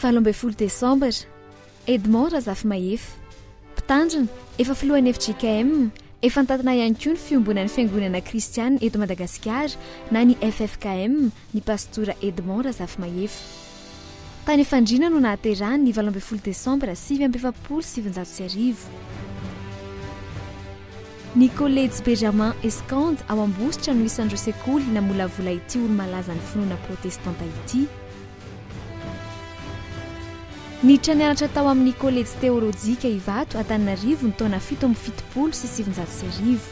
Valo ambin'ny folo desambra, Edmond Razafimahefa, Mpitandrina, efa filohan'ny fjkm, efa nitantana ihany koa ny fiombonan'ny Fiangonana Kristianina eto Madagasikara na ny ffkm, ny Pastora Edmond Razafimahefa. Tany Efandriana no nahaterahany ny valo ambin'ny folo desambra sivy amby efapolo sy sivinjato sy arivo. Ny Kolejy Bejamin Escande ao Ambositra no isan'ireo sekoly namolavola ity olo-malazan'ny finoana protestanta ity. Niditra nianatra tao amin'ny Kolejy Teôlôjika Ivato Antananarivo ny taona fito amby fitopolo sy sivinjato sy arivo.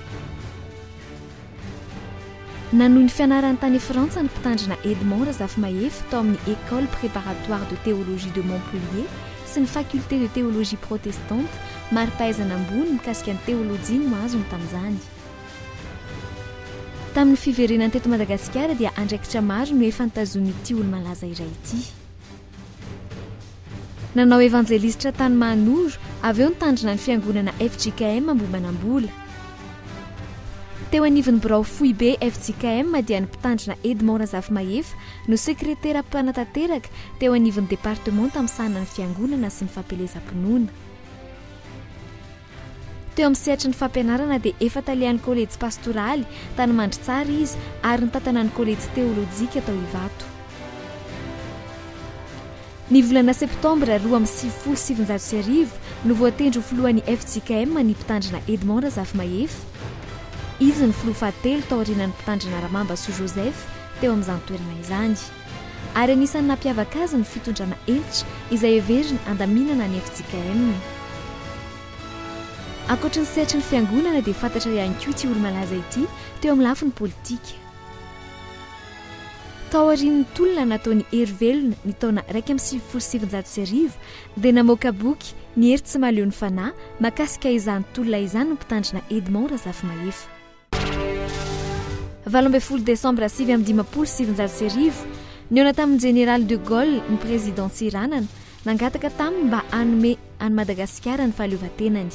Nanohy ny fianarany tany Frantsa ny Mpitandrina Edmond Razafimahefa tao amin'ny Ecole préparatoire de théologie de Montpellier sy ny Faculté de théologie protestante, mari-pahaizana ambony mikasika ny teolojia no azony tamin'izany. Tamin'ny fiverenany teto Madagasikara dia andraikitra maro no efa nitazonin'ity olo-malaza iray ity. Nanao evanjelisitra tany Mahanoro, avy eo nitandrina ny fiangonana fjkm Ambohimanambola. Teo anivon'ny birao foibe fjkm dia ny mpitandrina Edmond Razafimahefa no sekretera mpanatanteraka teo anivon'ny departemanta misahana ny fiangonana sy ny fampielezam-pinoana. Teo amin'ny sehatry ny fampianarana dia efa talehan'ny Kolejy Pastoraly tany Mandritsara izy ary nitantana ny Kolejy Teolojika tao Ivato. Ny volana septambra roa amby sivifolo sy sivinjato sy arivo no voatendry ho filohan'ny fjkm ny Mpitandrina Edmond Razafimahefa. Izy no filoha fahatelo taorianan'ny Mpitandrina Ramamba Soa Joseph teo amin'izany toerana izany. ary anisan'ny nampiavaka azy ny fitondrana hentitra izay heveriny handaminana ny fjkm. Ankoatra ny sehatry ny Fiangonana dia fantatra ihany koa ity olo-malaza ity teo amin'ny lafiny politika. Taorian'ny tolona nataon'i Hery Velona ny taona iraika amby sivifolo sy sivinjato sy arivo dia namoaka boky Ny hery tsy mahaleo ny fanahy makasika izany tolona izany ny mpitandrina Edmond Razafimahefa. Valo ambin'ny folo desambra sivy amby dimampolo sy sivinjato sy arivo, nihaona tamin'ny Jeneraly de Gaulle ny Prezidà Tsiranana, nangataka taminy mba hanome an'i Madagasikara ny fahaleovantenany.